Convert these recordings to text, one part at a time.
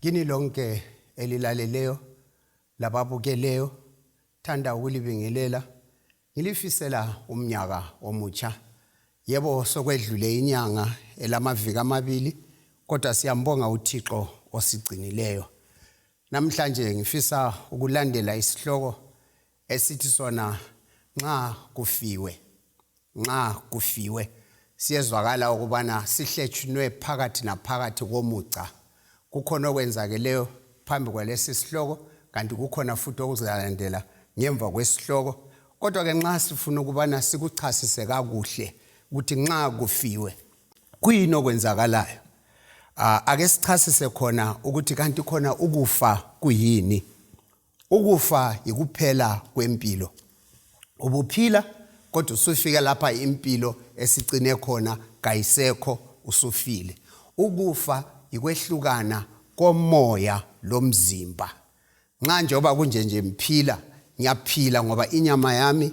kini lonke elilaleleyo lababukeleyo thanda ukulibingelela Ngilifisela umnyaka omutsha. Yebo sokwedlule inyanga elamaviki amabili kodwa siyambonga uThixo osigcinileyo. Namhlanje ngifisa ukulandela isihloko esithi sona nxa kufiwe. Nxa kufiwe siyezwakala ukubana sihletshunwe phakathi naphakathi komuca. Kukhona okwenzakeleyo phambi kwalesi sihloko kanti kukhona futhi okuzalandela ngemva kwesihloko kodwa ke nxa sifuna ukubana sikuchasise kakuhle ukuthi nxa kufiwe kuyini okwenzakalayo ake sichasise khona ukuthi kanti khona ukufa kuyini Ukufa yikuphela kwempilo. Ubuphila kodwa usufike lapha impilo esicine khona kayisekho usufile. Ukufa yikwehlukana komoya lomzimba. Nxa njengoba kunje nje mphila ngiyaphila ngoba inyama yami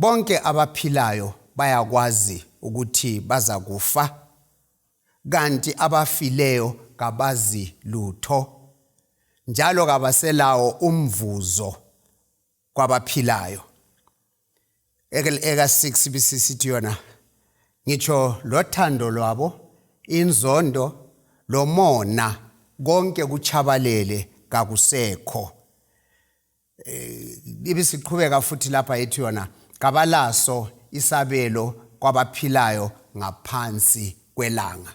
Bonke abaphilayo bayakwazi ukuthi bazakufa, kanti abafileyo kabazi lutho, njalo kabaselawo umvuzo kwabaphilayo. Eka-6 bisisithi yona, ngitsho lothando lwabo, inzondo, lomona, konke kutshabalele kakusekho. eh, ibisiqhubeka futhi lapha yethi yona kabalaso isabelo kwabaphilayo ngaphansi kwelanga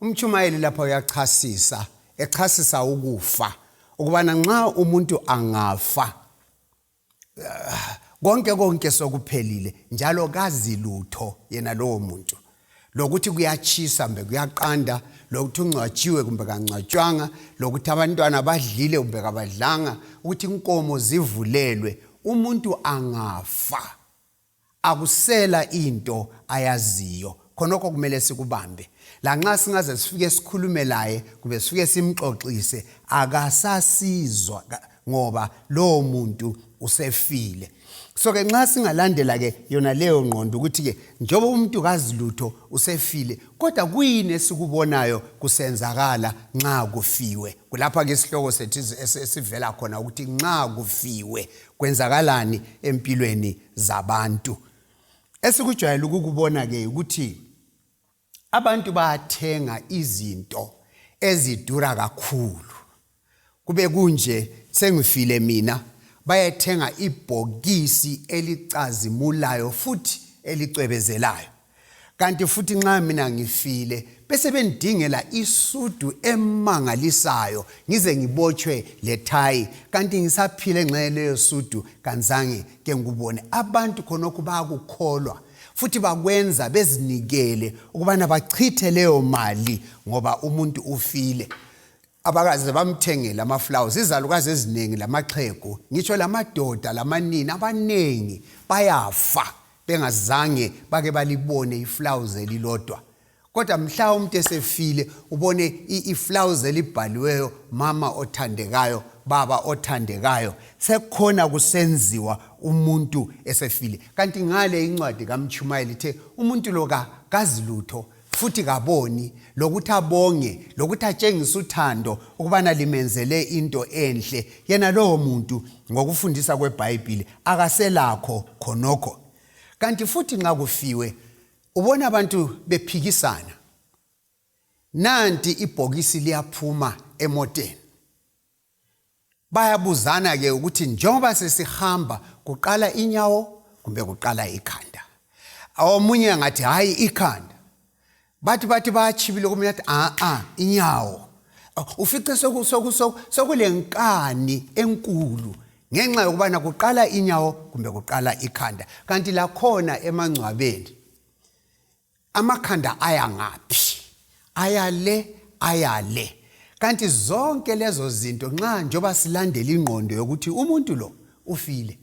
umtshumayeli lapha uyachasisa echasisa ukufa ukubana nxa umuntu angafa eh, konke konke sokuphelile njalo kazi lutho yena lowo muntu lokuthi kuyatshisa kumbe kuyaqanda lokuthi ungcwatshiwe kumbe kangcwatshwanga lokuthi abantwana badlile kumbe kabadlanga ukuthi inkomo zivulelwe umuntu angafa akusela into ayaziyo khonokho kumele sikubambe lanxa singaze sifike sikhulume laye kumbe sifike simxoxise akasasizwa ngoba lowo muntu usefile so ke nxa singalandela ke yona leyo ngqondo ukuthi ke njengoba umuntu kazilutho usefile kodwa kuyini esikubonayo kusenzakala nxa kufiwe kulapha ke isihloko sethu esivela khona ukuthi nxa kufiwe kwenzakalani empilweni zabantu esikujwayele ukukubona ke ukuthi Abantu bayathenga izinto ezidura kakhulu. Kube kunje sengifile mina bayethenga ibhokisi elicazimulayo futhi elicwebezelayo. Kanti futhi nxa mina ngifile bese bendingela isudu emangalisayo ngize ngibotshwe lethayi kanti ngisaphile nxa leyo sudu kanzange ke ngikubone abantu khonokho bayakukholwa futhi bakwenza bezinikele ukubana bachithe leyo mali ngoba umuntu ufile abakaze bamthengele amaflowers izalukazi eziningi lamaxhegu ngitsho lamadoda lamanini abaningi bayafa bengazange bake balibone iflowers elilodwa kodwa mhla umuntu esefile ubone iflawuzi elibhaliweyo mama othandekayo baba othandekayo sekhona kusenziwa umuntu esefile kanti ngale incwadi kamtshumayeli ithe umuntu lo kazi lutho futhi kaboni lokuthi abonge lokuthi atshengise uthando ukubana limenzele into enhle yena lowo muntu ngokufundisa kwebhayibhile akaselakho khonokho kanti futhi nxa kufiwe ubona abantu bephikisana nanti ibhokisi liyaphuma emoteni bayabuzana ke ukuthi njengoba sesihamba kuqala inyawo kumbe kuqala ikhanda omunye angathi hayi ikhanda bathi bathi bayachibile komunye athi a-a inyawo ufice sokulenkani enkulu ngenxa yokubana kuqala inyawo kumbe kuqala ikhanda kanti lakhona emangcwabeni amakhanda aya ngaphi aya le aya le kanti zonke lezo zinto nxa njengoba silandela ingqondo yokuthi umuntu lo ufile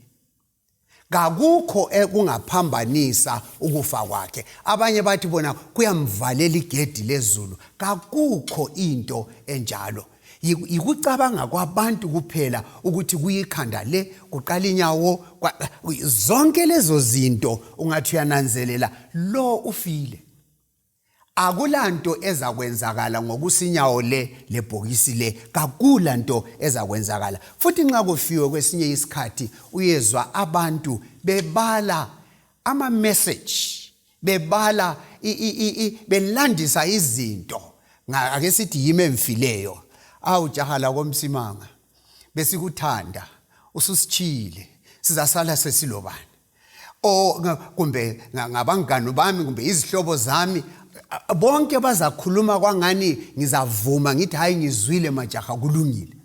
kakukho ekungaphambanisa ukufa kwakhe abanye bathi bona kuyamvalela igedi lezulu kakukho into enjalo yikucabanga kwabantu kuphela ukuthi kuyikhanda le kuqala inyawo zonke lezo zinto ungathi uyananzelela lo ufile akulanto ezakwenzakala ngokusinyawo le lebhokisi le kakula nto ezakwenzakala futhi nxa kufiwe kwesinye isikhathi uyezwa abantu bebala ama-message bebala belandisa izinto ake sithi yimi emfileyo awu jaha lakomsimanga besikuthanda ususichile sizasala sesilobani o kumbe ngabangani bami kumbe izihlobo zami bonke bazakhuluma kwangani ngizavuma ngithi hayi ngizwile majaha kulungile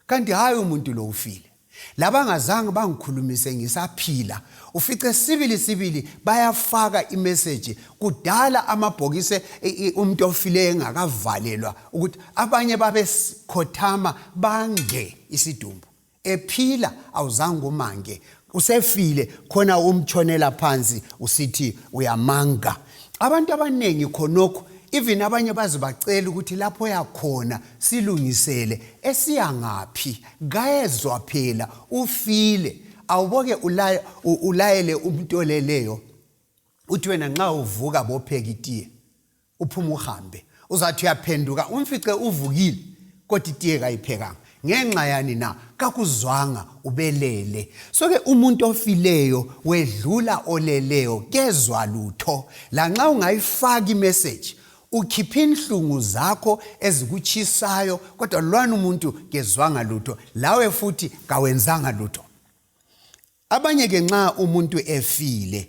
kanti hayi umuntu lo ufile labangazange bangikhulumise ngisaphila ufice sibili sibili bayafaka imeseji kudala amabhokisi e, e, umuntu ofileyo engakavalelwa ukuthi abanye babekhothama bange isidumbu ephila awuzange umange usefile khona umtshonela phansi usithi uyamanga abantu abaningi khonokho even abanye baze bacela ukuthi lapho yakhona silungisele esiya ngaphi kayezwa phela ufile awuboke ulayele umuntu oleleyo uthi wena nxa uvuka bophekitiye uphume uhambe uzathi uyaphenduka umfice uvukile kodwa itiye kayiphekanga ngenxa yani na kakuzwanga ubelele soke umuntu ofileyo wedlula oleleyo kezwa lutho lanxa ungayifaki imeseji ukhipha inhlungu zakho ezikutshisayo kodwa lwana umuntu kezwanga lutho lawe futhi kawenzanga lutho abanye ke nxa umuntu efile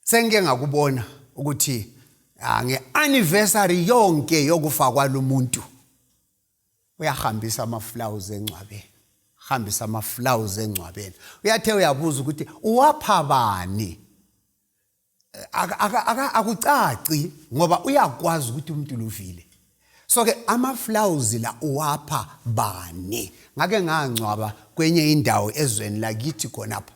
sengike ngakubona ukuthi ah, nge-anniversary yonke yokufa kwalo muntu uyahambisa amaflawuzi engcwabeni hambisa amaflawuzi engcwabeni uyathe uyabuza ukuthi uwapha bani akucaci ngoba uyakwazi ukuthi umuntu luvile so ke amaflawuzi la uwapha bani ngake ngangcwaba kwenye indawo ezweni lakithi khonapha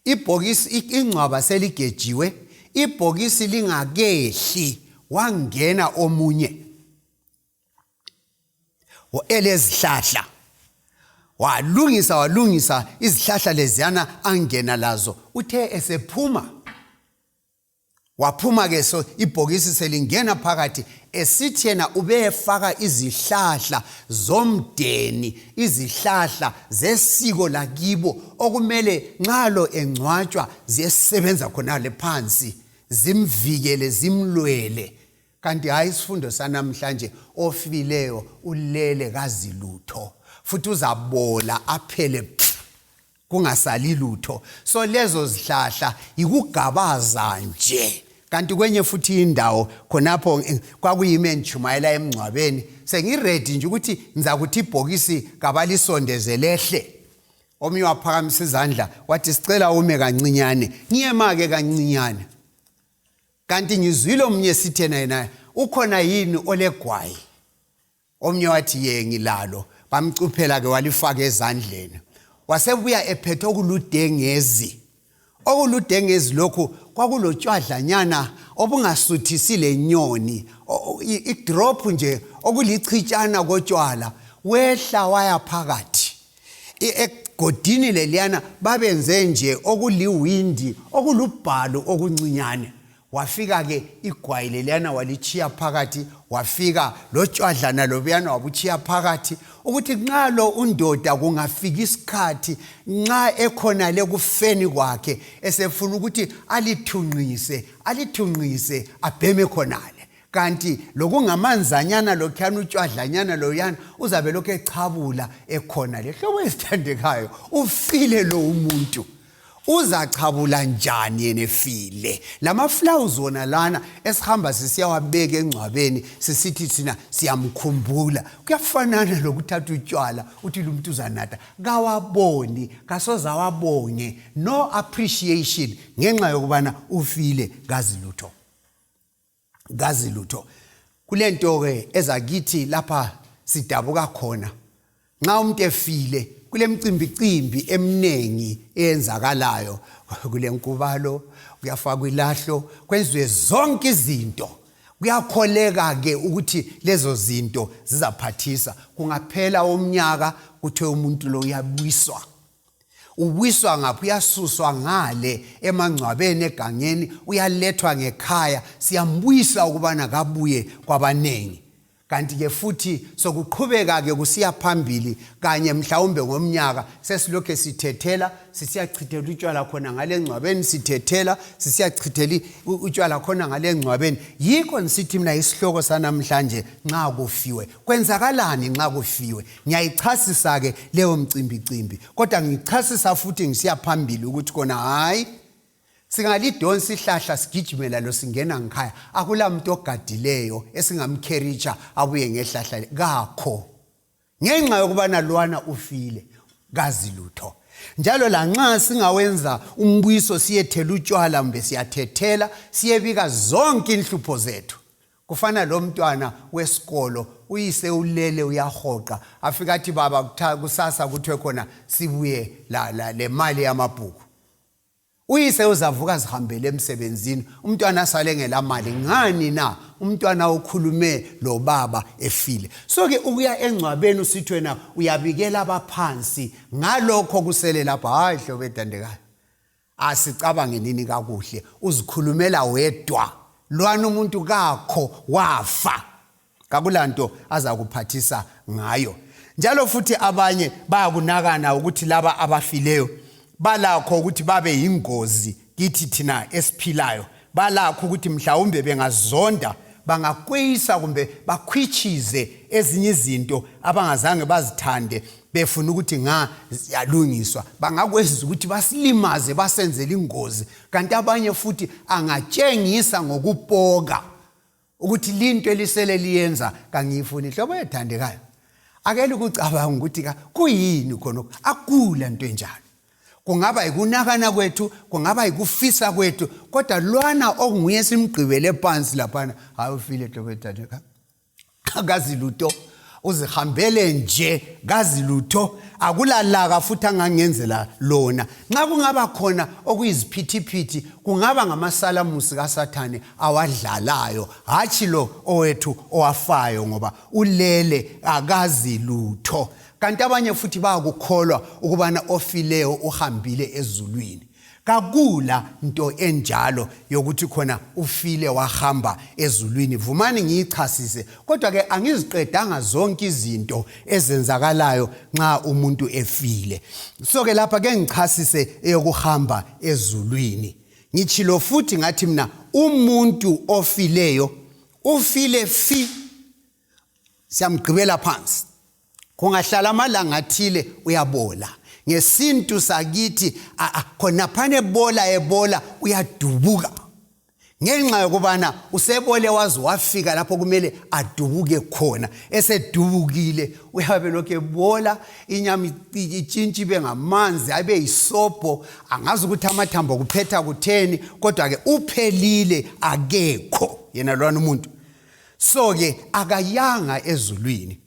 ibhokisi ingcwaba seligejiwe ibhokisi lingakehli wangena omunye elezihlahla walungisa walungisa izihlahla leziyana angena lazo uthe esephuma waphuma ke so ibhokisi selingena phakathi esithi yena ubeyefaka izihlahla zomdeni izihlahla zesiko lakibo okumele nxa lo engcwatshwa ziyesebenza khonale phansi zimvikele zimlwele kanti hhayi isifundo sanamhlanje ofileyo ulele kazilutho futhi uzabola aphele kungasali lutho so lezo zihlahla yikugabaza nje kanti kwenye futhi indawo khonapho eh, kwakuyimi engitshumayela emngcwabeni sengiredi nje ukuthi ngizakuthi ibhokisi kabalisondezelehle omunye waphakamisa izandla wathi sicela ume kancinyane ngiyema-ke kancinyane kanti ngizwile omunye sithena yena ukhona yini olegwayi omnye wathi ye ngilalo bamcuphela-ke walifaka ezandleni wasebuya ephethe okuludengezi okuludengezi lokhu kwakulotshwadlanyana obungasuthisi lenyoni idrop nje okulichitshana kotshwala wehla waya phakathi egodini leliyana babenze nje okuliwindi okulubhalo okuncinyane wafika ke igwayi leliyana walitshiya phakathi wafika lotshwadlana lobuyana wabutshiya phakathi ukuthi nxa lo undoda kungafika isikhathi nxa ekhona le kufeni kwakhe esefuna ukuthi alithunqise alithunqise abheme khonale kanti lokungamanzanyana lokhuyana utshwadlanyana loyana uzabe lokhu echabula ekhona le hlobo ezithandekayo ufile lo umuntu uzachabula njani yena efile lamaflawuzi wona lana esihamba sisiyawabeka engcwabeni sisithi thina siyamkhumbula kuyafanana lokuthatha utshwala uthi lo muntu uzanatha kawaboni kasoze awabonge no appreciation ngenxa yokubana ufile kazi lutho kazi lutho kule nto-ke ezakithi lapha sidabuka khona nxa umuntu efile kule mcimbicimbi eminingi eyenzakalayo kule nkubalo kuyafakwa ilahlo kwenziwe zonke izinto kuyakholeka-ke ukuthi lezo zinto zizaphathisa kungaphela umnyaka kuthiwe umuntu lo uyabuyiswa ubuyiswa ngaphi uyasuswa ngale emangcwabeni egangeni uyalethwa ngekhaya siyambuyisa ukubana kabuye kwabaningi kanti-ke futhi sokuqhubeka-ke kusiya phambili kanye mhlawumbe ngomnyaka sesilokhu sithethela sisiyachithela utshwala khona ngale ngcwabeni sithethela sisiyachithela utshwala khona ngale ngcwabeni yikho ngisithi mina isihloko sanamhlanje nxa kufiwe kwenzakalani nxa kufiwe ngiyayichasisa-ke leyo mcimbicimbi kodwa ngichasisa futhi ngisiya phambili ukuthi kona hhayi singalidonsa ihlahla sigijimela lo singena ngikhaya akula muntu ogadileyo esingamkheritsha abuye ngehlahla kakho ngenxa yokubana lwana ufile kazi lutho njalo lanxa singawenza umbuyiso siyethela utshwala mbe siyathethela siyebika zonke inhlupho zethu kufana lo mntwana wesikolo uyise ulele uyahoqa afika athi baba kusasa kuthiwe khona sibuye la, la, le mali yamabhuku uyise uzavuka zihambele emsebenzini umntwana asale ngelamali ngani na umntwana ukhulume lo baba efile so-ke ukuya engcwabeni usithi wena uyabikela abaphansi ngalokho kusele lapho hhayi hlobo edandekayo asicabange nini kakuhle uzikhulumela wedwa lwana umuntu kakho wafa kakulanto azakuphathisa ngayo njalo futhi abanye bayakunakana ukuthi laba abafileyo balakho ukuthi babe yingozi kithi thina esiphilayo balakho ukuthi mhlawumbe bengazonda bangakweyisa kumbe bakhwitshize ezinye izinto abangazange bazithande befuna ukuthi nga ziyalungiswa bangakwenza ukuthi basilimaze basenzele ingozi kanti abanye futhi angatshengisa ngokupoka ukuthi linto elisele liyenza kangiyifuni nhlobo ethandekayo akele ukucabanga ukuthi kuyini khona akula nto enjalo kungaba yikunakana kwethu kungaba yikufisa kwethu kodwa lwana okunguye simgqibele phansi laphana hayi ufile nhlobo ethandekayo akazi lutho uzihambele nje kazi lutho akulalaka futhi angangenzela lona nxa kungaba khona okuyiziphithiphithi kungaba ngamasalamusi kasathane awadlalayo hatshi lo owethu owafayo ngoba ulele akazi lutho kanti abanye futhi bayakukholwa ukubana ofileyo uhambile ezulwini kakula nto enjalo yokuthi khona ufile wahamba ezulwini vumani ngiyichasise kodwa ke angiziqedanga zonke izinto ezenzakalayo nxa umuntu efile so ke lapha ke ngichasise eyokuhamba ezulwini ngitshilo futhi ngathi mina umuntu ofileyo ufile fi siyamgqibela phansi kungahlala amalanga athile uyabola ngesintu sakithi khonaphana ebola ebola uyadubuka ngenxa yokubana usebole waze wafika lapho kumele adubuke khona esedubukile uyabe lokhu ebola inyama itshintshi ibe ngamanzi abe yisobho angazi ukuthi amathambo kuphetha kutheni kodwa-ke uphelile akekho yena lwana umuntu so ke akayanga ezulwini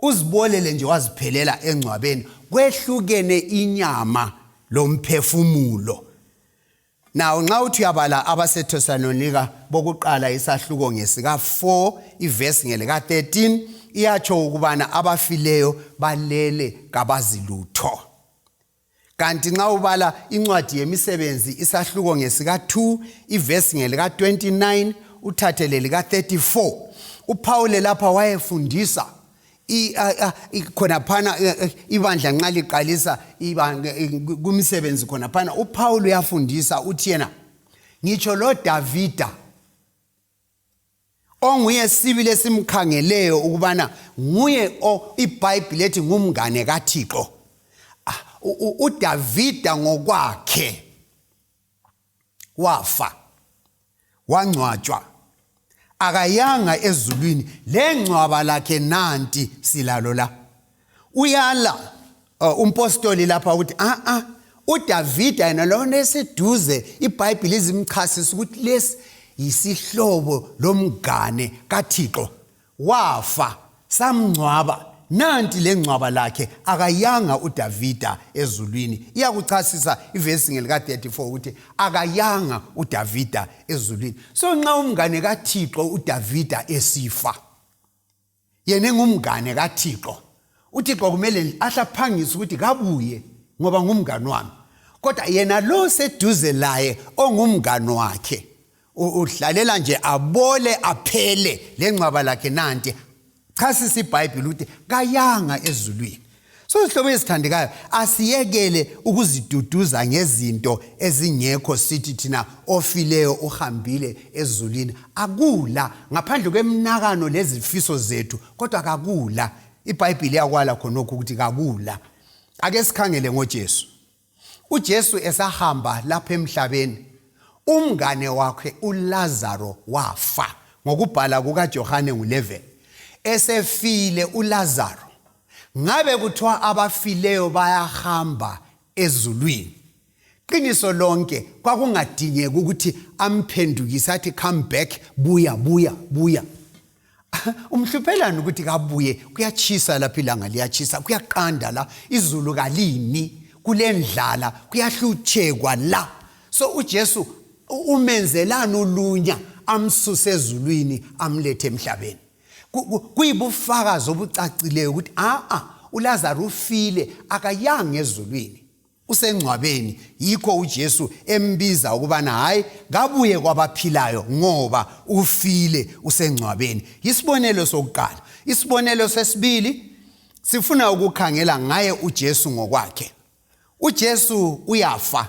uzibolele nje waziphelela engcwabeni kwehlukene inyama lomphefumulo nawo nxa uthi uyabala abasetesalonika bokuqala isahluko ngesika-4 ivesi ngelika-13 iyatsho ukubana abafileyo balele kabazilutho kanti nxa ubala incwadi yemisebenzi isahluko ngesika-2 ivesi ngelika-29 uthathe lelika-34 uphawule lapha wayefundisa khonaphana ibandla nxa liqalisa kumisebenzi khonaphana uphawule uyafundisa uthi yena ngitsho lodavida onguye sibili esimkhangeleyo ukubana nguye ibhayibhile ethi ngumngane kathixo ah, udavida ngokwakhe wafa wangcwatshwa akayanga ezulwini lengcwaba lakhe nanti silalo la uyala uh, umpostoli lapha ukuthi a-a ah, ah, udavida yena lona eseduze ibhayibhile izimchasisa ukuthi lesi yisihlobo lomngane kathixo wafa samngcwaba nanti le ngcwaba lakhe akayanga udavida ezulwini iyakuchasisa ivesi ngelika-34 ukuthi akayanga udavida ezulwini so nxa umngane kathixo udavida esifa yena engumngane kathixo uthixo kumele ahle aphangise ukuthi kabuye ngoba ngumngane wami kodwa yena lo seduze laye ongumngane wakhe udlalela nje abole aphele lengcwaba lakhe nanti chasisa ibhayibhile ukuthi kayanga ezulwini so zihlobo ezithandekayo asiyekele ukuziduduza ngezinto ezingekho sithi thina ofileyo uhambile ezulwini akula ngaphandle kwemnakano lezifiso zethu kodwa kakula ibhayibhile yakwala khonokho ukuthi kakula ake sikhangele ngojesu uJesu esahamba lapha emhlabeni umngane wakhe uLazaro wafa ngokubhala kukaJohane ngu-11 esefile uLazaro ngabe kuthiwa abafileyo bayahamba ezulwini qiniso lonke kwakungadingeki ukuthi amphendukise athi come back buya buya buya umhluphelani ukuthi kabuye kuyatshisa lapha ilanga liyatshisa kuyaqanda la izulu kalini kulendlala kuyahlutshekwa la so ujesu umenzelani ulunya amsuse ezulwini amlethe emhlabeni kuyibufakazi obucacileyo ukuthi a-a ulazaro ufile akayanga ezulwini usengcwabeni yikho uJesu embiza ukubana hayi kabuye kwabaphilayo ngoba ufile usengcwabeni isibonelo sokuqala isibonelo sesibili sifuna ukukhangela ngaye uJesu ngokwakhe uJesu uyafa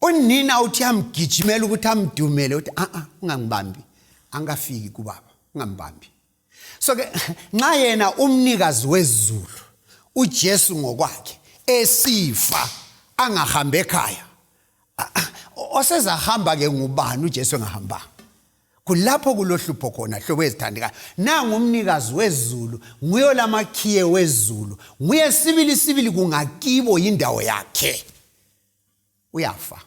unina uthi amgijimela ukuthi amdumele uthi a a ungangibambi angikafiki kubaba ungambambi so ke nxa yena umnikazi wezulu uJesu ngokwakhe esifa angahambe ekhaya osezahamba ke ngubani uJesu engahambanga kulapho kulohlupho khona hlobo ezithandekayo nangu umnikazi wezulu nguye olamakhiye wezulu nguye sibili sibili kungakibo yindawo yakhe uyafa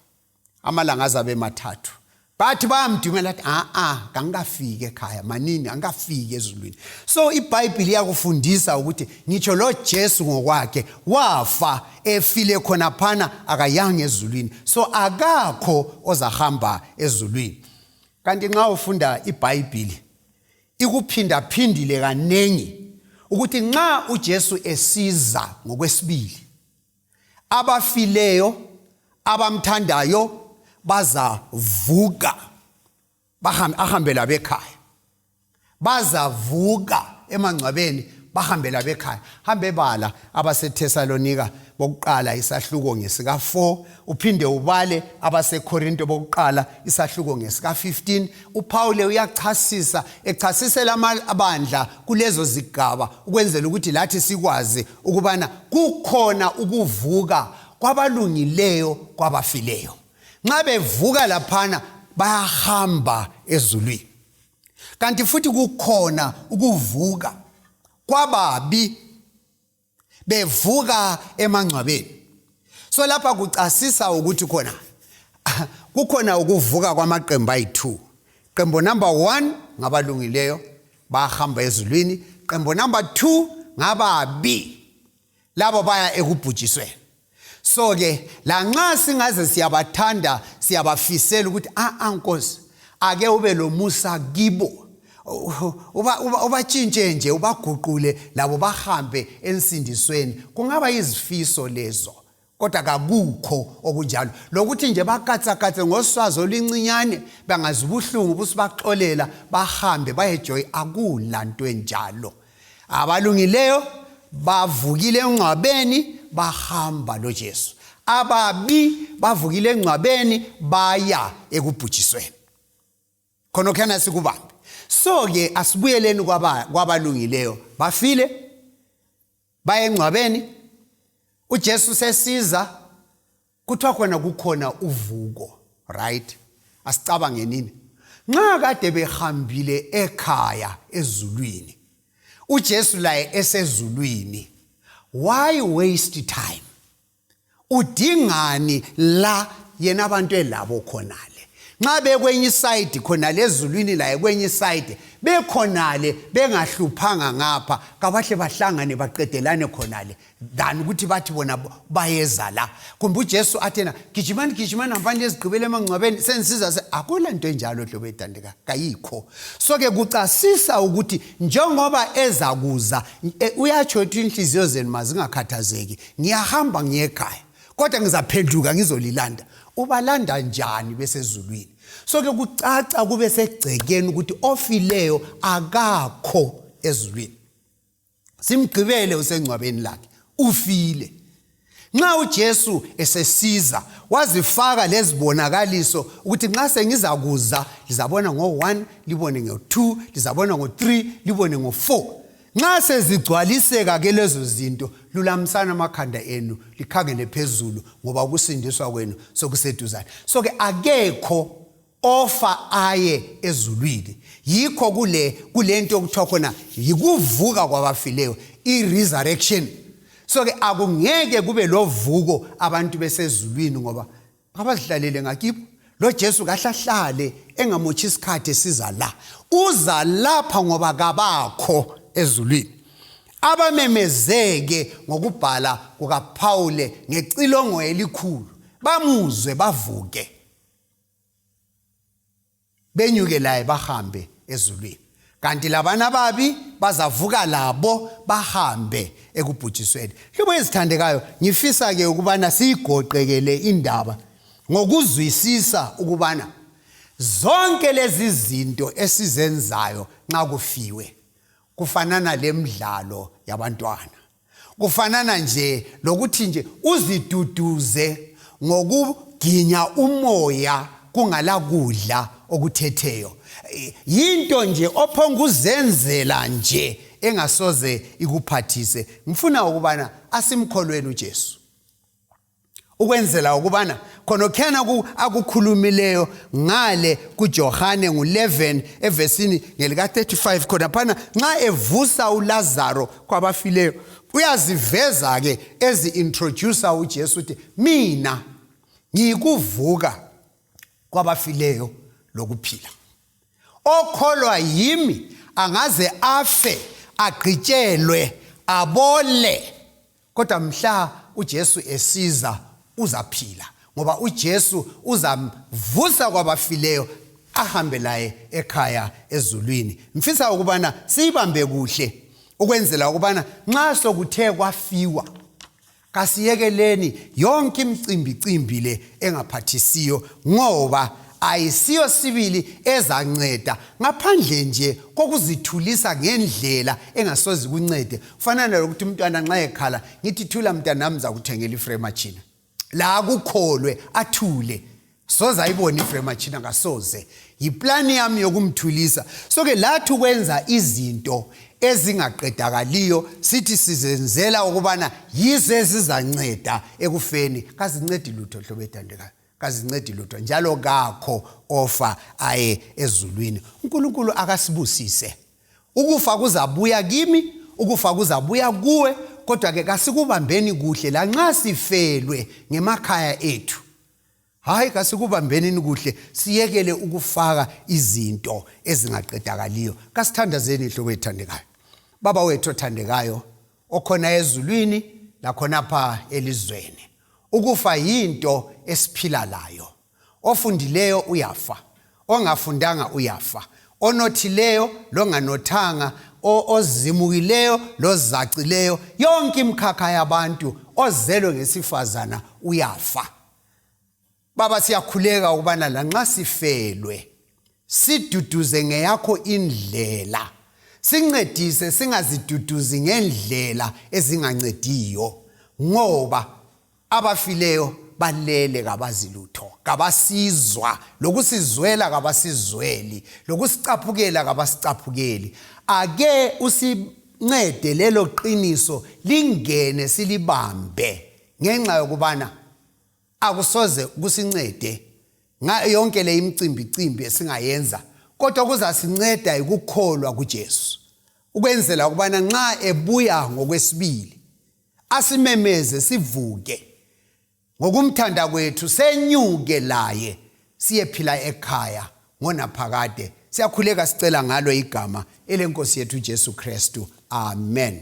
amalanga azabe mathathu bathi bayamdumela athi a-a kangikafiki ekhaya manini angikafiki ezulwini so ibhayibhile iyakufundisa ukuthi ngitsho lo jesu ngokwakhe wafa efile khonaphana akayanga ezulwini so akakho ozahamba ezulwini kanti nxa ufunda ibhayibhili ikuphindaphindile kaningi ukuthi nxa ujesu esiza ngokwesibili abafileyo abamthandayo bazavuka ahambe labekhaya bazavuka emangcwabeni bahambe labekhaya hambe bala abaseThesalonika bokuqala isahluko ngesika4 uphinde ubale abaseKorinto bokuqala isahluko ngesika15 uPawule uyachasisa echasisela amabandla kulezo zigaba ukwenzela ukuthi lathi sikwazi ukubana kukhona ukuvuka kwabalungileyo kwabafileyo nxa bevuka laphana bayahamba ezulwini kanti futhi kukhona ukuvuka kwababi bevuka emangcwabeni so lapha kucasisa ukuthi khona kukhona ukuvuka kwamaqembu ayi-2 qembu number 1 ngabalungileyo bahamba ezulwini qembu number 2 ngababi labo baya ekubhujisweni so ke lanxa singaze siyabathanda siyabafisela ukuthi a-a ah, ah, nkosi ake ube lomusa kibo ubatshintshe uba, uba nje ubaguqule labo bahambe ensindisweni kungaba yizifiso lezo kodwa kakukho okunjalo lokuthi nje bakatsakatse ngoswazi oluncinyane bangazi ubuhlungu busibaxolela bahambe bayejoyi akula nto enjalo abalungileyo bavukile engcwabeni bahamba lojesu ababi bavukile engcwabeni baya ekubhujisweni khonokhyana sikubambe so-ke asibuyeleni kwabalungileyo kwaba bafile baye engcwabeni ujesu sesiza kuthiwa khona kukhona uvuko right asicabange nini nxa kade behambile ekhaya ezulwini ujesu laye esezulwini why waste time udingani la yena abantu elabo khonale nxa bekwenye isayidi khonale ezulwini laye kwenye isayidi bekhonale bengahluphanga ngapha kabahle bahlangane baqedelane khonale than ukuthi bathi bona bayeza la kumbe ujesu athena gijimani gijimani hambani lezigqibela emangcwabeni senisiza se akula nto enjalo hlobo ethandeka kayikho so-ke kucasisa ukuthi njengoba ezakuza e, uyatsho ukuthi inhliziyo zenu mazingakhathazeki ngiyahamba ngiye ekhaya kodwa ngizaphenduka ngizolilanda ubalanda njani besezulwini so ke kucaca kube segcekeni ukuthi ofileyo akakho ezulwini simgqibele usengcwabeni lakhe ufile nxa uJesu esesiza wazifaka lezibonakaliso ukuthi nxa sengizakuza lizabona ngo1 libone ngo2 lizabona ngo3 libone ngo4 nxa sezigcwaliseka ke lezo zinto lulamisani amakhanda enu likhangele phezulu ngoba ukusindiswa kwenu sokuseduzane so ke akekho ofa aye ezulwini yikho kule kulento okuthiwa khona yikuvuka kwabafileyo i-resurrection so-ke akungeke kube lovuko abantu besezulwini ngoba abazihlalele ngakibo lo Jesu kahlahlale engamotshi isikhathi esiza la uza lapha ngoba kabakho ezulwini abamemezeke ngokubhala kukaPawule ngecilongo elikhulu bamuzwe bavuke benyuke laye bahambe ezulwini kanti labana babi bazavuka labo bahambe ekubhujisweni hlobo ezithandekayo ngifisa ke ukubana siyigoqekele indaba ngokuzwisisa ukubana zonke lezi zinto esizenzayo nxa kufiwe kufanana lemidlalo yabantwana kufanana nje lokuthi nje uziduduze ngokuginya umoya kungala kudla okuthetheyo yinto nje ophonga uzenzela nje engasoze ikuphathise ngifuna ukubana asimkholweni uJesu ukwenzela ukubana khonokhena akukhulumileyo ngale kujohane ngu-11 evesini ngelika-35 khonaphana nxa evusa ulazaro kwabafileyo uyaziveza ke ezi-introducer ujesu uthi mina ngiyikuvuka kwabafileyo lokuphila okholwa yimi angaze afe agqitshelwe abole kodwa mhla uJesu esiza uzaphila ngoba uJesu uzamvusa kwabafileyo ahambe laye ekhaya ezulwini mfisa ukubana siyibambe kuhle ukwenzela ukubana nxa sokuthe kwafiwa kasiyekeleni yonke imicimbi cimbi le engaphathisiyo ngoba ayisiyo sibili ezanceda ngaphandle nje kokuzithulisa ngendlela engasozi kuncede fanana lokuthi umntwana nxa ekhala ngithi thula mntanami zakuthengela ifrematshina la akukholwe athule soze ayibone ifrematshina kasoze yiplani yami yokumthulisa so-ke lathi ukwenza izinto ezingaqedakaliyo sithi sizenzela ukubana yizo ezizanceda ekufeni kazincedi lutho hlobo ethandekayo kazincedi lutho njalo kakho ofa aye ezulwini unkulunkulu akasibusise ukufa kuzabuya kimi ukufa kuzabuya kuwe kodwa-ke kasikubambeni kuhle lanxa sifelwe ngemakhaya ethu hhayi kasikubambenini kuhle siyekele ukufaka izinto ezingaqedakaliyo kasithandazeni ihlobo ethandekayo baba wethu othandekayo okhona ezulwini lakhonapha elizweni ukufa yinto esiphila layo ofundileyo uyafa ongafundanga uyafa onothileyo longanothanga ozimukileyo lozacileyo yonke imkhakha yabantu ozelwe ngesifazana uyafa baba siyakhuleka ukubana lanxa sifelwe siduduze ngeyakho indlela sincedise singaziduduzi ngendlela ezingancediyo ngoba abafileyo balele kabazi lutho kabasizwa lokusizwela kabasizweli lokusicaphukela kabasicaphukeli ake usincede lelo qiniso lingene silibambe ngenxa yokubana akusoze kusincede ngayo yonke le imicimbi cimbi esingayenza kodwa kuzasinceda yikukholwa kuJesu ukwenzela ukubana nxa ebuya ngokwesibili asimemeze sivuke ngokumthanda kwethu senyuke laye siyephila ekhaya ngonaphakade siyakhuleka sicela ngalo igama elenkosi yethu uJesu Kristu amen